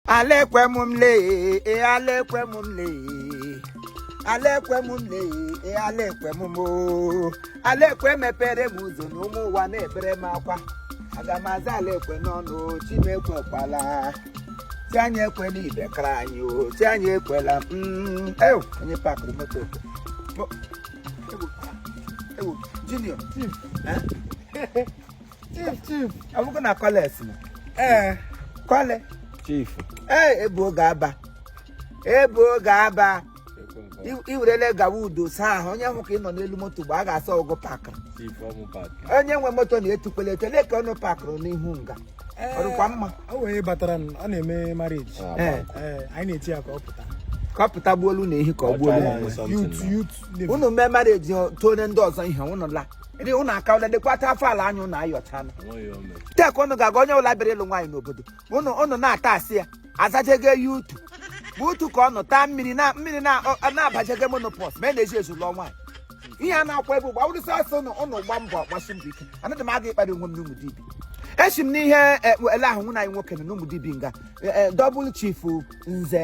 ala Ekwe m m lee e ala Ekwe m m lee ala Ekwe m m lee e ala Ekwe m m oo. ala Ekwe mepere m ụzọ na ụmụ ụwa na-ebere m akwa aga m aza ala Ekwe n'ọnụ o, chi m ekwekwala chi anyị ekwela ibe kara anyị o chi anyị ekwela mm, ew onye pakụrụ moto okwe. Mo- ewu, ewu, junior eh? chief chief ọ bụkwa na Collins na ee kọle chief ee ebu oge aba ebu oge aba I- i werele gawa udo saa ahụ onye hụ ka ị nọ n'elu moto mgbe a ga-asa ọgụ pakịrị chief ọmụ pak onye nwe moto na-etukwele etele ka ọnụ pakịrị n'ihu nga ọ dịkwa mma o wee batara n- ọ na-eme marriage Ee, ee anyị na-eti ya ka ọ pụta ka ọ pụta gbuolu na ehi ka ọ gbuolu Ọcha ya. onwe ya. youth youth unu mee marriage tone ndị ọzọ ihe unu la dị ụnụ aka ụlọ lekwata afọ ala anya ụnụ ayọchala tek ụnụ ga-aga onye ụla bịara ịlụ nwaanyị n'obodo ụnụ ụnụ na-ata asị ya azajego ya utu bụ utu ka ọ nọ taa mmiri na mmiri na-abajego menopause ma e na-eji ezu lụọ nwaanyị ihe a na-akwa ebe ụgba wụrụ sọsọ ụnụ ụnụ gba mbọ gbasi mbọ ike anadị m aga ịkparị onwe m n'Ụmụdibi esi m n'ihe ele ahụ nwaanyị nwoke na n'Ụmụdibi nga double chief nze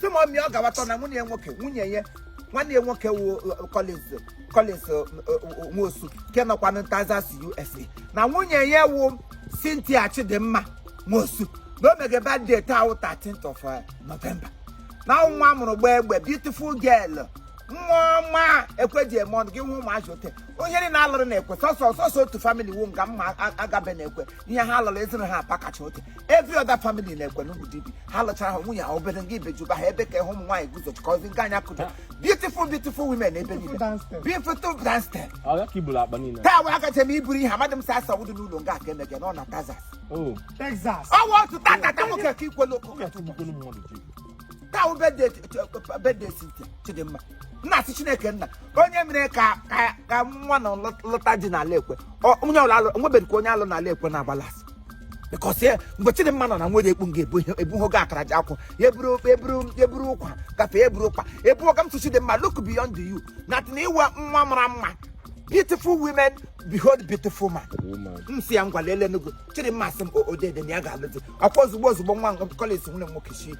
sị m ọmịa ọ gawatọ na nwunye ya nwoke nwunye ya nwanne ya nwoke wu Collins Collins eh, eh, Nwosu nke nọkwa na Texas USA na nwunye ya wu Cynthia Chidimma Nwosu na o mege birthday taa wụ 13th of eh, November na nwa a mụrụ gbaa egbe beautiful girl nwa ọma Ekwe ji eme ọnụ gị hụ ụmụazị ote onye niile a lụrụ n'Ekwe sọsọ sọsọ otu family wu nga mma a- agabe n'Ekwe ihe ha lụrụ ezina ha apakacha oke every other family n'Ekwe n'Ụmụdibi ha lụchara ha nwunye ha obere nga ibejuba ha ebe ka ịhụ ụmụ nwaanyị guzo chikọzi nke anya kụdo beautiful beautiful women ebe niile beautiful dance step taa wee akacha m iburu ihe amadị m sa asa wudu n'ụlọ nga aka emege nọ na Texas ọwa otu tatata nwoke ka ikwelu okwu taa wụ birthday Ch- Ch- birthday Cynthia Chidimma nna asị Chineke nna onye mere ka ka ka nwa na lọ- lọta ji n'ala Ekwe Ọ- onye ọla alụ nwebeghị ka onye alụ n'ala Ekwe na-agbala asị because ya mgbe Chidimma nọ na nwere ekpu nga ebu ihe- ebu hogo akara ji akwụ ya eburu eburu eburu ụkwa gafe ya eburu ụkwa ebu ọga m sị Chidimma look beyond you na tịna ị wụ nwa mara mma beautiful women behold beautiful man Woman. m si ya ngwa leele n'ugwu chidimma sị m odede na ya ga-alụ di ọkwa ozugbo ozugbo nwa Collins nwanne m nwoke chi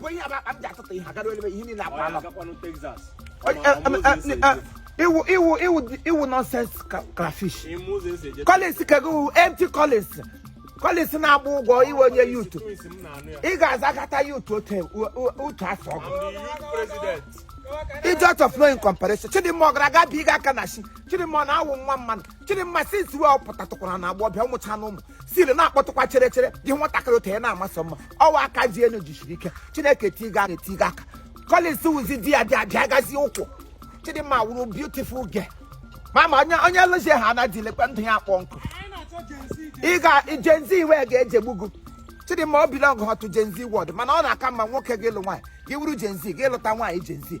bụ ihe akpa m ji atụtụ ihe agara ebe ihe niile akpa anọ ị wụ ị wụ ị wụ ị wụ nonsense crayfish collins kego empty collins collins na-agba ụgwọ ị wụ onye youth ị ga-azagata yut otu afọ ọgụ idiot of no incomparison chidimma ọ gara aga bi ịga aka na chi chidimma ọ na-awụ nwa mmadụ chidimma since wee ọ pụtatụkwara na agba ọbịa ụmụcha na ụmụ siri na-akpọtụkwa chere chere gị nwatakịrị otu ya na-amasị mma ọwa aka ji enu jisiri ike chineke tiga aka etiga aka Collins wụzi di ya dị abịa gazie ụkwụ chidimma wụrụ beautiful girl ma ma onye onye lụzie ha anaghị lekwa ndụ ya akpọ nkụ ị ga Gen Z iwe ga-ejigbu gị chidimma ọ belong to Gen Z world mana ọ na-aka mma nwoke gị lụ nwaanyị gị wụrụ Gen Z gị lụta nwaanyị Gen Z